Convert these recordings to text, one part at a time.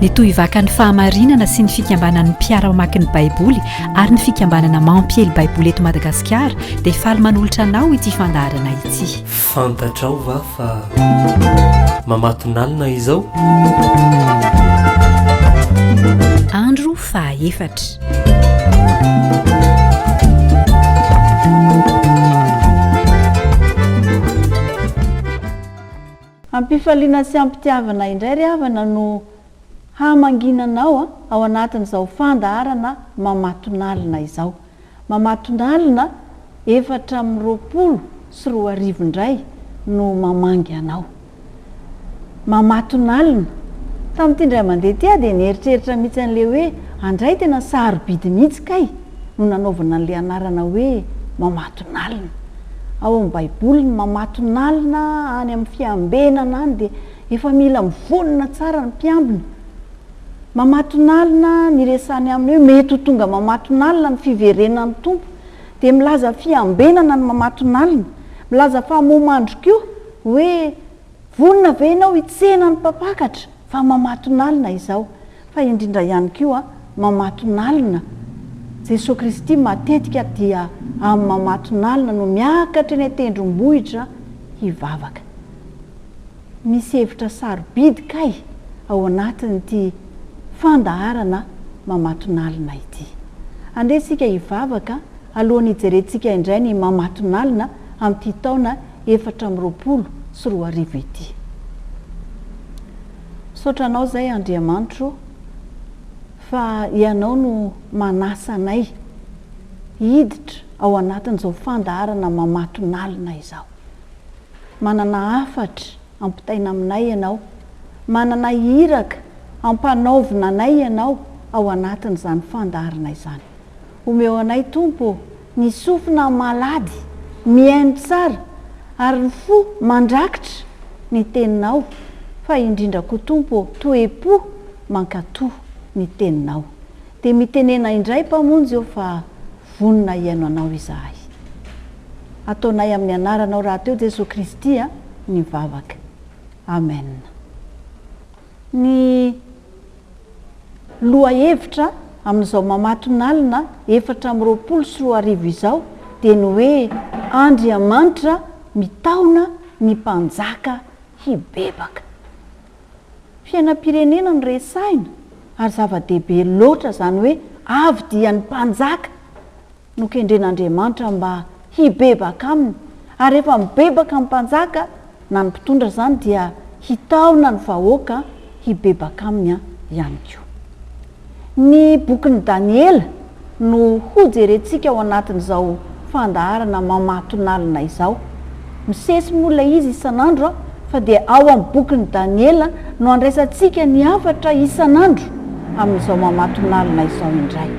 ny tohivakan'ny fahamarinana sy ny fikambanan'ny mpiara-mamaky ny baiboly ary ny fikambanana mampiely baiboly eto madagasikara dia faly manolotra anao ity fandaharana ity fantatrao va fa mamatonalina izao andro fahaefatra Am-pifaliana sy am-pitiavana indray ry havana no haha-mangina anao ao anatin'izao fandaharana mamatonalina izao. Mamatonalina efatra amby roapolo sy roa arivo indray no mamangy anao. Mamatonalina. Tamin'ity indray mandeha ity aho dia nieritreritra mihitsy an'ilay hoe andray tena sarobidy mihitsy kay. no nanaovana an'ilay anarana hoe mamatonalina. Ao amin'ny Baiboly, ny mamatonalina any amin'ny fiambenana any dia efa mila mivonona tsara ny mpiambina. Mamatonalina, ny resahany amin'ny hoe mety ho tonga mamatonalina ny fiverenan'ny Tompo, dia milaza fiambenana ny mamatonalina. Milaza fa momandry koa hoe, Vonona ve ianao hitsena ny mpampakatra? fa mamatonalina izao fa indrindra ihany koa mamatonalina Jesoa Kristy matetika dia amin'ny mamatonalina no miakatra eny an-tendrombohitra hivavaka. Misy hevitra sarobidy kay ao anatin'ity fandaharana mamatonalina ity. Andeha isika hivavaka alohan'ny hijerentsika indray ny mamatonalina amin'ity taona efatra amby roapolo sy roa arivo ity. Misaotra Anao izay Andriamanitro o, fa Ianao no manasa anay hiditra ao anatin'izao fandaharana mamatonalina izao. Manana hafatra ampitaina aminay Ianao, manana iraka ampanaovina anay Ianao ao anatin'izany fandaharana izany. Omeo anay Tompo o! ny sofina malady mihaino tsara ary ny fo mandrakitra ny teninao fa indrindra koa Tompo ô toepo mankato ny teninao dia mitenena indray Mpamonjy ô fa vonona hihaino anao izahay ataonay amin'ny anaranao rahateo Jesoa Kristy a ny vavaka Amen. Ny lohahevitra amin'izao mamatonalina efatra amby roapolo sy roa arivo izao dia ny hoe Andriamanitra mitaona ny mpanjaka hibebaka. Fiainam-pirenena no resahina ary zava-dehibe loatra izany hoe avy dia ny mpanjaka. nokendren'Andriamanitra mba hibebaka aminy, ary rehefa mibebaka ny mpanjaka na ny mpitondra izany dia hitaona ny vahoaka hibebaka aminy ihany koa. Ny bokin'i Daniela no hojerentsika ao anatin'izao fandaharana mamatonalina izao. Misesy moa ilay izy isan'andro fa dia ao amin'ny bokin'i Daniela no andraisantsika ny hafatra isan'andro amin'izao mamatonalina izao indray.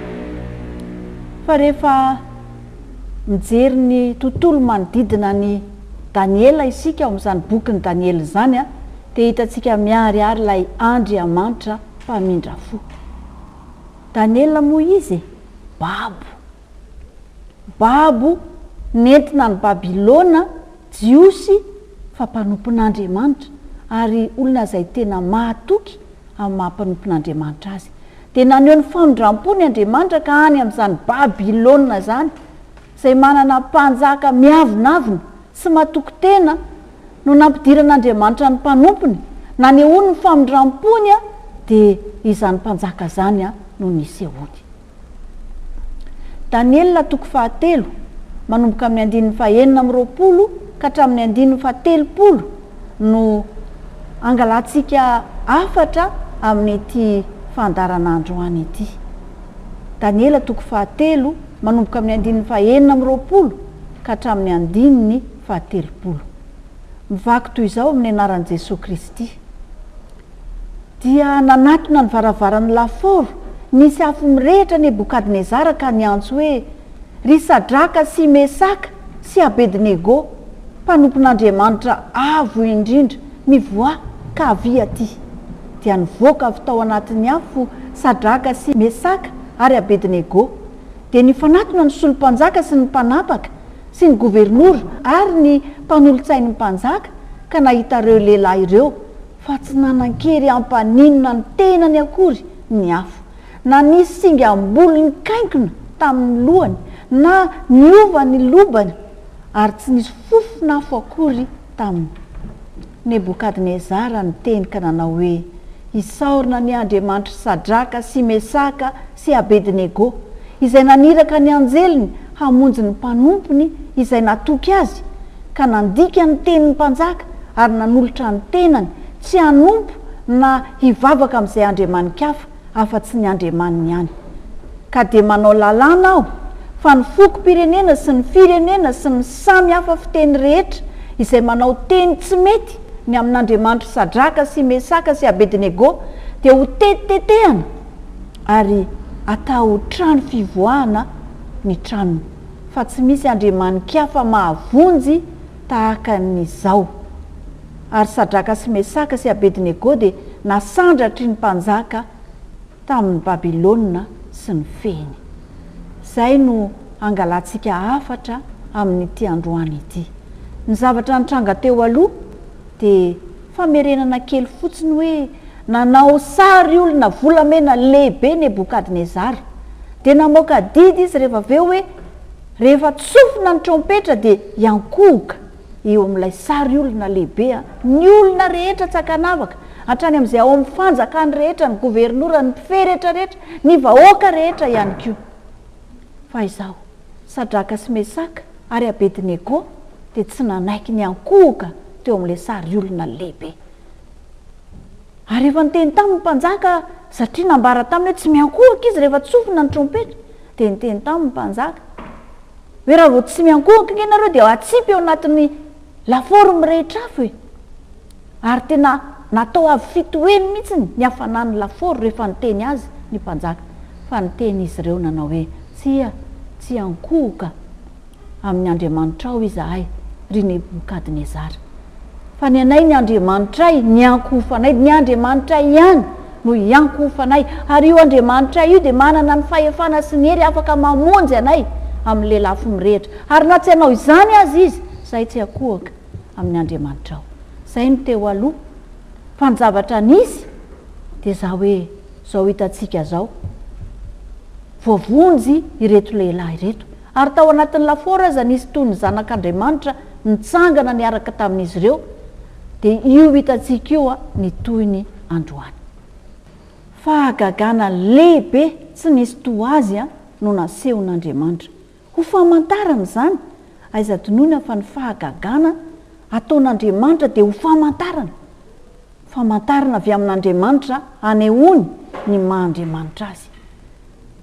fa rehefa mijery ny tontolo manodidina an'i Daniela isika ao amin'izany bokin'i Daniela izany dia hitantsika miharihary ilay Andriamanitra mpamindra fo. Daniela moa izy babo. Babo nentina any Babylona. Jiosy fa mpanompon'Andriamanitra ary olona izay tena mahatoky amin'ny maha mpanompon'Andriamanitra azy. Dia naneho ny famindram-pony Andriamanitra ka any amin'izany Babylona izany, izay manana mpanjaka miavonavona sy matoky tena, no nampidiran'Andriamanitra ny mpanompony. Nanehoany ny famindram-pony dia izany mpanjaka izany no nisehoany. Daniela toko fahatelo, manomboka amin'ny andininy fahenina amby roapolo ka hatramin'ny andininy fahatelopolo no angalantsika hafatra amin'ity fandaharanandro any ity. Daniela toko fahatelo, manomboka amin'ny andininy fahenina amby roapolo ka hatramin'ny andininy fahatelopolo. Mivaky toy izao amin'ny anaran'i Jesoa Kristy. Dia nanatona ny varavaran'ny lafaoro nisy afo mirehitra Nebokadnezara ka niantso hoe, Ry Sadraka sy Mesaka sy Abednego, mpanompon'Andriamanitra Avo Indrindra, mivoaha ka avia aty! Dia nivoaka avy tao anatin'ny afo Sadraka sy Mesaka ary Abednego. Dia nifanatona ny solo-mpanjaka sy ny mpanapaka sy ny governora ary ny mpanolotsain'ny mpanjaka ka nahita ireo lehilahy ireo fa tsy nanan-kery hampaninona ny tenany akory ny afo, na nisy singam-bolo nikainkona tamin'ny lohany, na niova ny lobany, ary tsy nisy fofon'afo akory taminy. Nebokadnezara niteny ka nanao hoe, Isaorana ny Andriamanitr'i Sadraka sy Mesaka sy Abednego, izay naniraka ny anjeliny hamonjy ny mpanompony izay natoky azy, ka nandika ny tenin'ny mpanjaka ary nanolotra ny tenany tsy hanompo na hivavaka amin'izay andriamani-kafa afa-tsy ny Andriamaniny ihany. Ka dia manao lalàna aho fa ny fokom-pirenena sy ny firenena sy ny samy hafa fiteny rehetra izay manao teny tsy mety ny amin'Andriamanitr'i Sadraka sy Mesaka sy Abednego dia hotetiteteana, ary atao trano fivoahana ny tranony fa tsy misy andriamani-kafa mahavonjy tahaka ny izao. Ary Sadraka sy Mesaka sy Abednego dia nasandratry ny mpanjaka tamin' ny Babilôna sy ny fehiny. Izay no hangalantsika hafatra amin' ity androany ity. Ny zavatra nitranga teo aloha. Dia famerenana kely fotsiny hoe nanao sary olona volamena lehibe Nebokadnezara. Dia namoaka didy izy rehefa avy eo hoe rehefa tsofina ny trompetra dia hiankohoka eo amin'ilay sary olona lehibe ny olona rehetra tsy ankanavaka, hatrany amin'izay ao amin'ny fanjakany rehetra, ny governora, ny mpifehy rehetrarehetra, ny vahoaka rehetra ihany koa. Fa izao. Sadraka sy Mesaka ary Abednego dia tsy nanaiky ny hankohoka teo amin'ilay sary olona lehibe. Ary efa niteny taminy ny mpanjaka, satria nambara taminy hoe tsy miankohoka izy rehefa tsofina ny trompetra, dia niteny taminy ny mpanjaka hoe raha vao tsy miankohoka ange ianareo dia hatsipy ao anatin'ny lafaoro mirehitra afo e! Ary tena natao avy fitoheny mihitsy ny hafanan'ny lafaoro rehefa niteny azy ny mpanjaka, fa niteny izy ireo nanao hoe, Tsia, tsia ankohoka amin'ny Andriamanitrao izahay, ry Nebokadnezara, fa ny anay ny Andriamanitray ny iankohofanay, ny Andriamanitray ihany no iankohofanay, ary io Andriamanitray io dia manana ny fahefana sy ny hery afaka mamonjy anay amin'ny lelafo mirehitra, ary na tsy hanao izany aza izy, izahay tsy hakohoka. amin'ny Andriamanitrao. Izay no teo aloha, fa ny zavatra nisy dia izao hoe izao hitantsika izao, voavonjy ireto lehilahy ireto, ary tao anatin'ny lafaoro aza nisy toy ny zanak'Andriamanitra nitsangana niaraka tamin'izy ireo, dia io hitantsika io ny tohiny androany. Fahagagana lehibe tsy nisy toa azy no nasehon'Andriamanitra, Ho famantarana izany, aiza adinoina fa ny fahagagana ataon'Andriamanitra dia ho famantarana, famantarana avy amin'Andriamanitra hanehoany ny maha Andriamanitra Azy.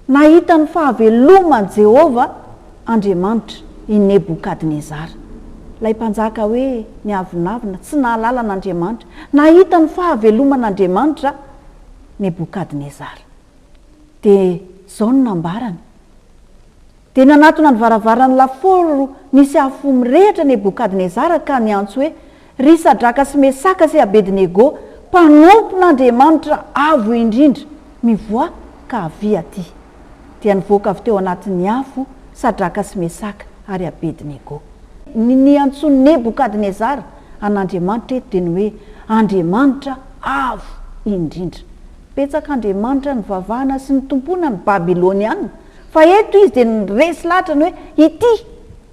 Nahita ny fahaveloman'i Jehovah Andriamanitra i Nebokadnezara. Ilay mpanjaka hoe niavonavona, tsy nahalala an'Andriamanitra. Nahita ny fahaveloman'Andriamanitra Nebokadnezara. dia izao no nambarany, Dia nanatona ny varavaran'ny lafaoro nisy afo mirehitra Nebokadnezara ka niantso hoe, Ry Sadraka sy Mesaka sy Abednego, mpanompon'Andriamanitra Avo Indrindra, mivoaha ka avia atỳ! Dia nivoaka avy teo anatin'ny afo Sadraka sy Mesaka ary Abednego. Ny niantsoan'i Nebokadnezara an'Andriamanitra eto dia ny hoe Andriamanitra Avo Indrindra. Betsaka andriamanitra nivavahana sy nitompoana ny Babyloniana, fa eto izy dia niresy lahatra ny hoe ity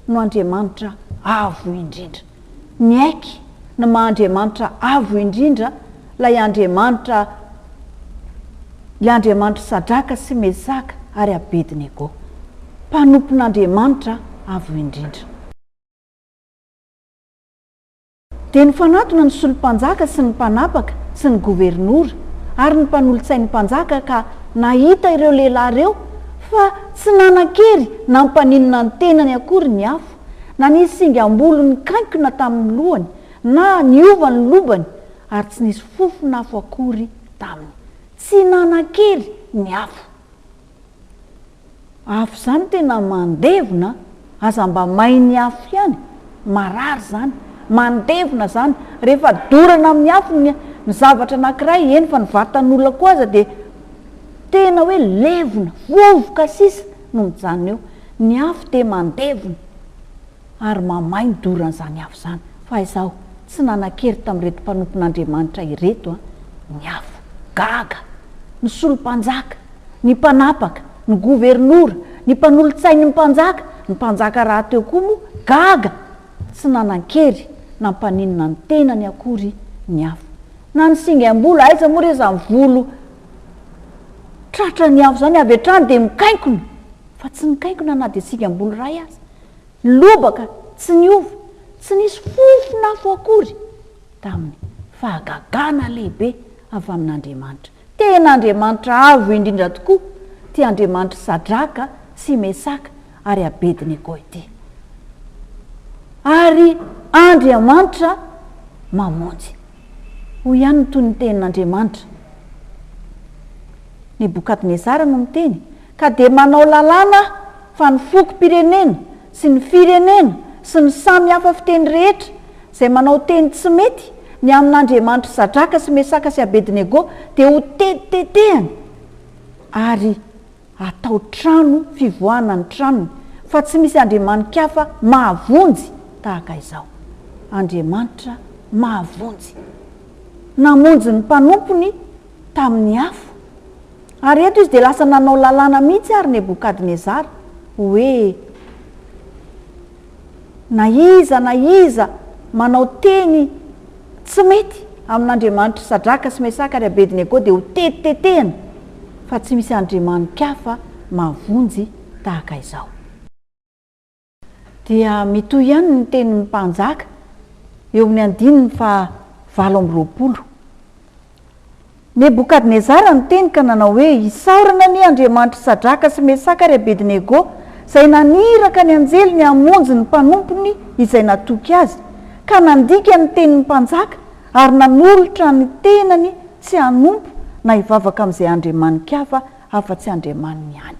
no Andriamanitra avo indrindra. Niaiky ny maha Andriamanitra avo indrindra ilay Andriamanitra, ilay Andriamanitr'i Sadraka sy Mesaka ary Abednego, mpanompon'Andriamanitra avo indrindra. Dia nifanatona ny solo-mpanjaka sy ny mpanapaka sy ny governora ary ny mpanolotsain'ny mpanjaka ka nahita ireo lehilahy ireo fa tsy nanan-kery nampaninona ny tenany akory ny afo na nisy singam-bolo nikaikona tamin'ny lohany na niova ny lobany ary tsy nisy fofon'afo akory taminy. Tsy nanan-kery ny afo. Afo zany tena mandevona a! Aza mba may ny afo ihany, marary zany, mandevona zany, rehefa dorana amin'ny afo ny ny zavatra anankiray, eny fa ny vatan'olona koa aza dia tena hoe levona, vovoka sisa no mijanona eo, ny afo dia mandevona. ary mamay ny doran'izany afo izany, fa izaho tsy nanan-kery tamin'ireto mpanompon'Andriamanitra ireto ny afo. Gaga! Ny solompanjaka, ny mpanapaka, ny governora, ny mpanolotsain'ny mpanjaka, ny mpanjaka rahateo koa moa gaga! Tsy nanan-kery na mpaninona ny tenany akory ny afo. Na ny singam-bolo, aiza moa re izany volo tratran'ny afo izany, avy hatrany dia mikainkona, fa tsy nikainkona na dia singam-bolo iray aza. lobaka tsy niova, tsy nisy fofon'afo akory taminy, fahagagana lehibe avy amin'Andriamanitra. Tena Andriamanitra avo indrindra tokoa ity Andriamanitr'i Sadraka sy Mesaka ary Abednego ity. Ary Andriamanitra mamonjy. Hoy ihany ny tonon-tenin'Andriamanitra. Nebokadnezara no miteny, Ka dia manao lalàna aho fa ny fokom-pirenena sy ny firenena sy ny samy hafa fiteny rehetra izay manao teny tsy mety ny amin'Andriamanitry Zadraka sy Mesaka sy Abednego dia ho tetitetehany ary atao trano fivoahana ny tranony fa tsy misy andriamanin-kafa mahavonjy tahaka izao. Andriamanitra mahavonjy. Namonjy ny mpanompony tamin'ny afo. Ary eto izy dia lasa nanao lalàna mihitsy àry Nebokadnezara, hoe, Na iza na iza manao teny tsy mety amin'Andriamanitr'i Sadraka sy Mesaka ary Abednego dia hotetitetehina, fa tsy misy andriamani-kafa mahavonjy tahaka izao. dia mitohy ihany ny tenin'ny mpanjaka eo amin'ny andininy faha valo amby roapolo. Nebokadnezara niteny ka nanao hoe, Isaorana anie Andriamanitr'i Sadraka sy Mesaka ary Abednego, izay naniraka ny anjeliny hamonjy ny mpanompony izay natoky azy, ka nandika ny tenin'ny mpanjaka ary nanolotra ny tenany tsy hanompo na hivavaka amin'izay andriamani-kafa afa-tsy Andriamaniny ihany.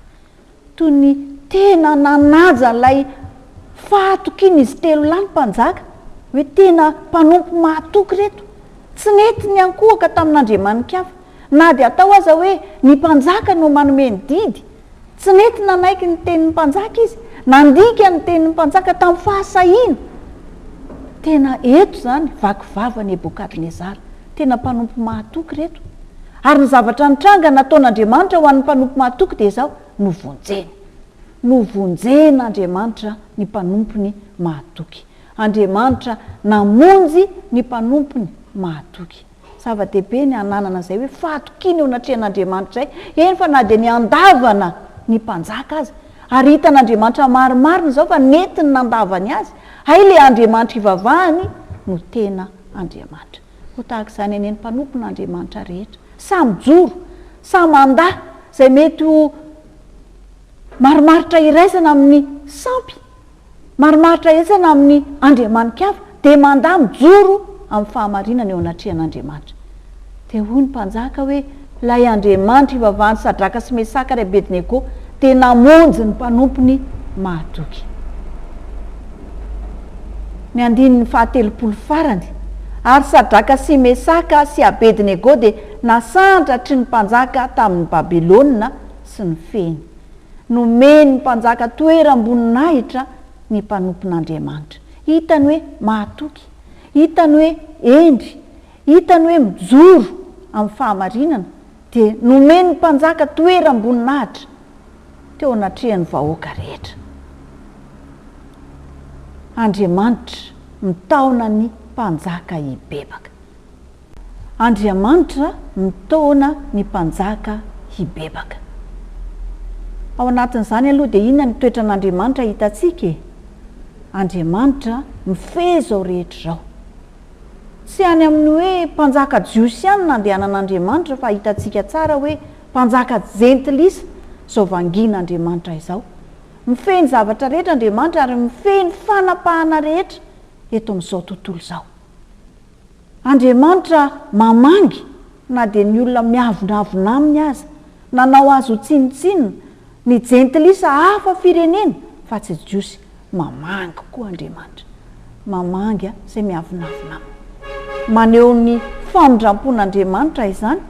Toy ny tena nanaja ilay fahatokian'izy telo lahy ny mpanjaka, hoe tena mpanompo mahatoky ireto. Tsy nety ny hankohoka tamin'andriamani-kafa. Na dia atao aza hoe ny mpanjaka no manome ny didy, tsy nety nanaiky ny tenin'ny mpanjaka izy. Nandika ny tenin'ny mpanjaka tamin'ny fahasahiana. Tena eto izany vaky vava Nebokadnezara. Tena mpanompo mahatoky ireto. Ary ny zavatra nitranga nataon'Andriamanitra ho an'ny mpanompo mahatoky dia izao, novonjeny. Novonjen'Andriamanitra ny mpanompony mahatoky. Andriamanitra namonjy ny mpanompony mahatoky. Zava-dehibe ny hananana izay hoe fahatokiana eo anatrehan'Andriamanitra izay, eny fa na dia ny handavana ny mpanjaka aza. Ary hitan'Andriamanitra marimarina izao fa nety ny nandavany azy. Hay ilay Andriamanitra ivavahany no tena Andriamanitra. Ho tahaka izany anie ny mpanompon' Andriamanitra rehetra. Samy joro, samy handà izay mety ho marimaritra iraisana amin' ny sampy, marimaritra iraisana amin' ny andriamanikava, dia mandà mijoro amin' ny fahamarinana eo anatrehan' Andriamanitra. Dia hoy ny mpanjaka hoe, Ilay Andriamanitra ivavahan'i Sadraka sy Mesaka ary Abednego dia namonjy ny mpanompony mahatoky. Ny andininy fahatelopolo farany, Ary Sadraka sy Mesaka sy Abednego dia nasandratry ny mpanjaka tamin'i Babylona sy ny fehiny. Nomen'ny mpanjaka toeram-boninahitra ny mpanompon'Andriamanitra. Hitany hoe mahatoky. Hitany hoe hendry. Hitany hoe mijoro amin'ny fahamarinana dia nomen'ny mpanjaka toeram-boninahitra teo anatrehan'ny vahoaka rehetra. Andriamanitra mitaona ny mpanjaka hibebaka. Andriamanitra mitaona ny mpanjaka hibebaka. Ao anatin'izany aloha dia inona ny toetran'Andriamanitra hitantsika e? Andriamanitra mifehy izao rehetra izao. Tsy any amin'ny hoe mpanjaka jiosy ihany no nandehanan'Andriamanitra fa hitantsika tsara hoe mpanjaka jentilisa izao vangin'Andriamanitra izao. Mifehy ny zavatra rehetra Andriamanitra ary mifehy ny fanapahana rehetra eto amin'izao tontolo izao. Andriamanitra mamangy na dia ny olona miavonavona aminy aza. Nanao azy ho tsinontsinona ny jentilisa hafa firenena fa tsy jiosy. Mamangy koa Andriamanitra. Mamangy an izay miavonavona aminy. Maneho ny famindrampon'Andriamanitra izany.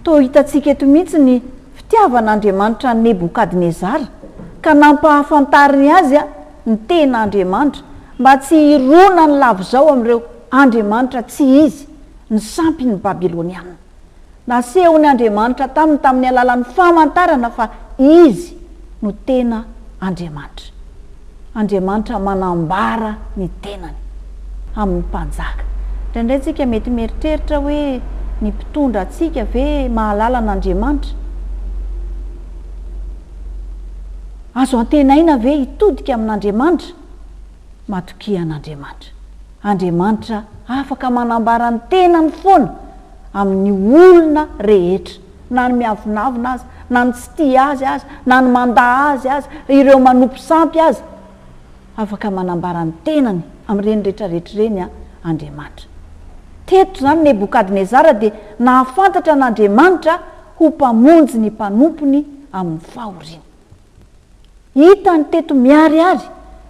Toa hitantsika eto mihitsy ny fitiavan'Andriamanitra an'i Nebokadnezara ka nampahafantariny azy ny tena Andriamanitra mba tsy hironany lavizao amin'ireo andriamanitra tsy izy, ny sampin'ny Babylonianina. Nasehon' Andriamanitra taminy tamin' ny alalan' ny famantarana fa Izy no tena Andriamanitra. Andriamanitra manambara ny tenany amin' ny mpanjaka. Indraindray isika mety mieritreritra hoe ny mpitondra antsika ve mahalala an' Andriamanitra? Azo antenaina ve hitodika amin' Andriamanitra? Matokia an'Andriamanitra. Andriamanitra afaka manambara ny tenany foana amin'ny olona rehetra, na ny miavonavona aza, na ny tsy tia Azy aza, na ny mandà Azy aza, ireo manompo sampy aza. Afaka manambara ny tenany amin'ireny rehetrarehetra ireny Andriamanitra. Teto izany Nebokadnezara dia nahafantatra an'Andriamanitra ho Mpamonjy ny mpanompony amin'ny fahoriany. Hitany teto miharihary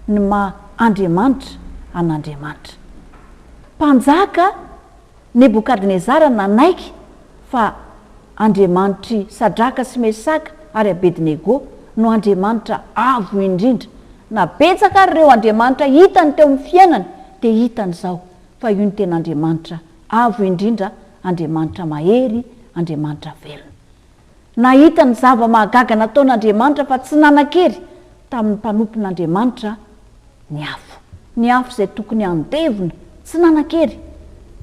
ny maha Andriamanitra an'Andriamanitra. Mpanjaka Nebokadnezara nanaiky fa Andriamanitr'i Sadraka sy Mesaka ary Abednego no Andriamanitra avo indrindra. Na betsaka ary ireo andriamanitra hitany teo amin'ny fiainany, dia hitany izao fa io no tena Andriamanitra avo indrindra, Andriamanitra mahery, Andriamanitra velona. Nahita ny zava-mahagaga nataon'Andriamanitra fa tsy nanan-kery tamin'ny mpanompon'Andriamanitra ny afo. Ny afo izay tokony handevona, tsy nanan-kery.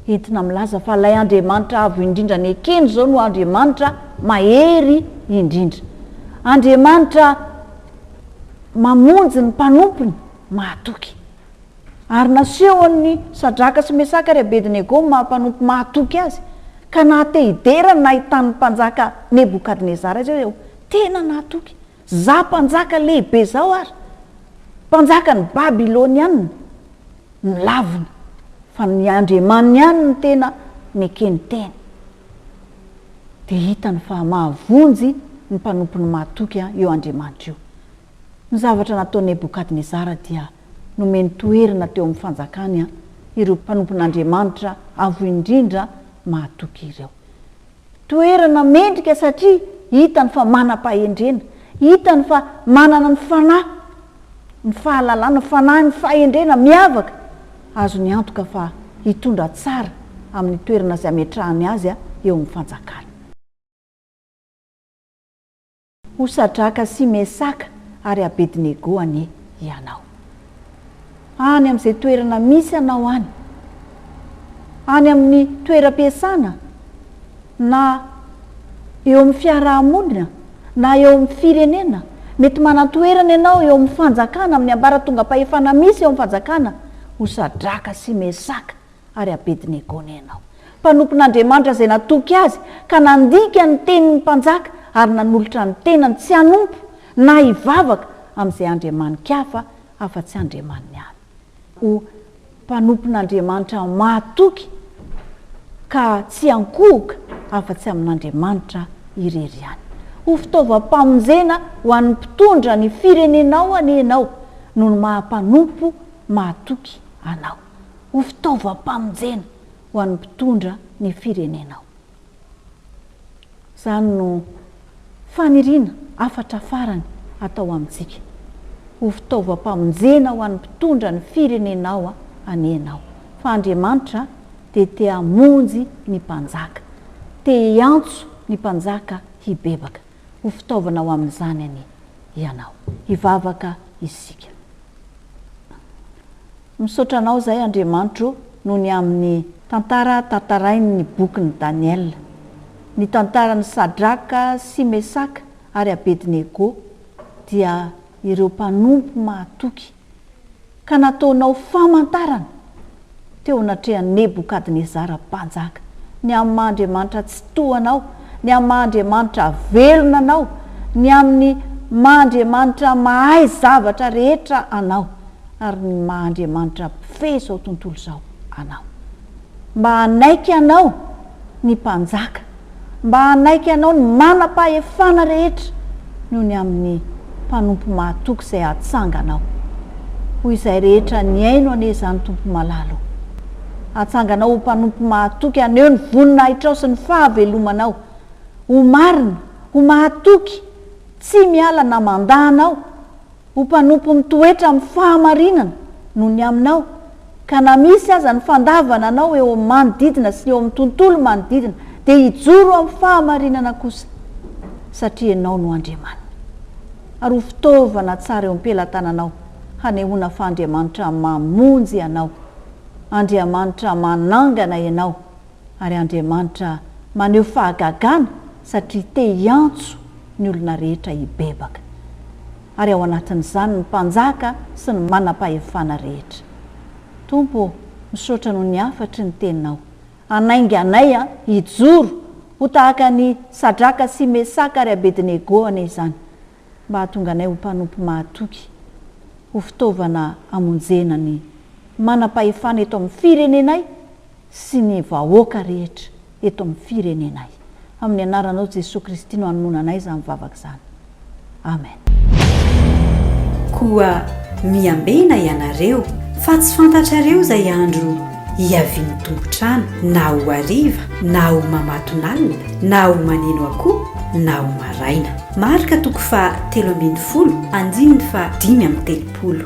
Entina milaza fa ilay Andriamanitra Avo Indrindra nekeny izao no Andriamanitra mahery indrindra. Andriamanitra mamonjy ny mpanompony mahatoky. Ary nasehon'i Sadraka sy Mesaka ary Abedinego ny maha-mpanompo mahatoky azy, ka naha-te-hidera ny nahitan'ny Mpanjaka Nebokadnezara azy aho. Tena nahatoky! Izaho mpanjaka lehibe izao ary mpanjakan'ny Babylonianina? Nilavina, fa ny Andriamaniny ihany no tena nekeny teny. Dia hitany fa mahavonjy ny mpanompony mahatoky io Andriamanitra io. Ny zavatra nataon'i Nebokadnezara dia nomeny toerana teo amin'ny fanjakany ireo mpanompon'Andriamanitra avo indrindra mahatoky ireo. Toerana mendrika satria hitany fa manam-pahendrena, hitany fa manana ny fanahy, ny fahalalana, ny fanahin'ny fahendrena miavaka azony antoka fa hitondra tsara amin'ny toerana izay ametrahany azy eo amin'ny fanjakany. Ho Sadraka sy Mesaka ary Abednego anie ianao. Any amin'izay toerana misy anao any, any amin'ny toeram-piasana, na eo amin'ny fiaraha-monina, na eo amin'ny firenena, mety manan-toerana ianao eo amin'ny fanjakana, amin'ny ambaratongam-pahefana misy eo amin'ny fanjakana, ho Sadraka sy Mesaka Ary Abednego nenao, mpanompon'Andriamanitra izay natoky azy, ka nandika ny tenin'ny mpanjaka ary nanolotra ny tenany tsy hanompo na hivavaka amin'izay andriamani-kafa afa-tsy Andriamaniny ihany, ho mpanompon'Andriamanitra mahatoky ka tsy ankohoka afa-tsy amin'Andriamanitra irery ihany. Ho fitaovam-pamonjena ho an'ny mpitondra ny firenenao anie ianao, noho ny maha mpanompo mahatoky anao. ho fitaovam-pamonjena ho an'ny mpitondra ny firenena ao. Izany no faniriana hafatra farany atao amintsika. Ho fitaovam-pamonjena ho an'ny mpitondra ny firenenao anie ianao, fa Andriamanitra dia te hamonjy ny mpanjaka, te hiantso ny mpanjaka hibebaka. Ho fitaovana ho amin'izany anie ianao. Hivavaka isika. Misaotra anao izay Andriamanitro noho ny amin'ny. Tantara tantarain' ny bokin' i Daniela. Ny tantaran' i Sadraka sy Mesaka ary Abednego dia ireo mpanompo mahatoky ka nataonao famantarana teo anatrehan' Nebokadnezara mpanjaka, ny amin'ny maha Andriamanitra Tsitoha anao, ny amin'ny maha Andriamanitra velona anao, ny amin'ny maha Andriamanitra mahay zavatra rehetra anao. ary ny maha Andriamanitra mpifehy izao tontolo izao anao. Mba hanaiky anao ny mpanjaka, mba hanaiky anao ny manam-pahefana rehetra noho ny amin'ny mpanompo mahatoky izay hatsanganao. Ho izay rehetra nihaino anie izany Tompo malala o. Hatsanganao ho mpanompo mahatoky haneho ny voninahitrao sy ny fahavelomanao. Ho marina, ho mahatoky, tsy miala na mandà anao. Ho mpanompo mitoetra amin'ny fahamarinana no ny aminao, ka na misy aza ny fandavana anao eo amin'ny manodidina sy ny eo amin'ny tontolo manodidina, dia hijoro amin'ny fahamarinana kosa, satria ianao no Andriamaniny. Ary ho fitaovana tsara eo am-pelatananao hanehoana fa Andriamanitra mamonjy anao, Andriamanitra manangana ianao, ary Andriamanitra maneho fahagagana satria te hiantso ny olona rehetra hibebaka, ary ao anatin'izany ny mpanjaka sy ny manam-pahefana rehetra. Tompo ô, misaotra noho ny hafatry ny Teninao. Hanainga anay hijoro ho tahaka an'i Sadraka sy Mesaka ary Abedinego anie izany. mba hahatonga anay ho mpanompo mahatoky, ho fitaovana hamonjena ny manam-pahefana eto amin'ny firenenay sy ny vahoaka rehetra eto amin'ny firenenay. Amin'ny anaranao Jesoa Kristy no anonona anay izany vavaka izany. Amen. Koa miambena ianareo, fa tsy fantatrareo izay andro Hiavian'ny tompon-trano na ho hariva na ho mamatonalina na ho maneno akoho na ho maraina. Marka toko faha telo ambin'ny folo, andininy faha dimy amby telopolo.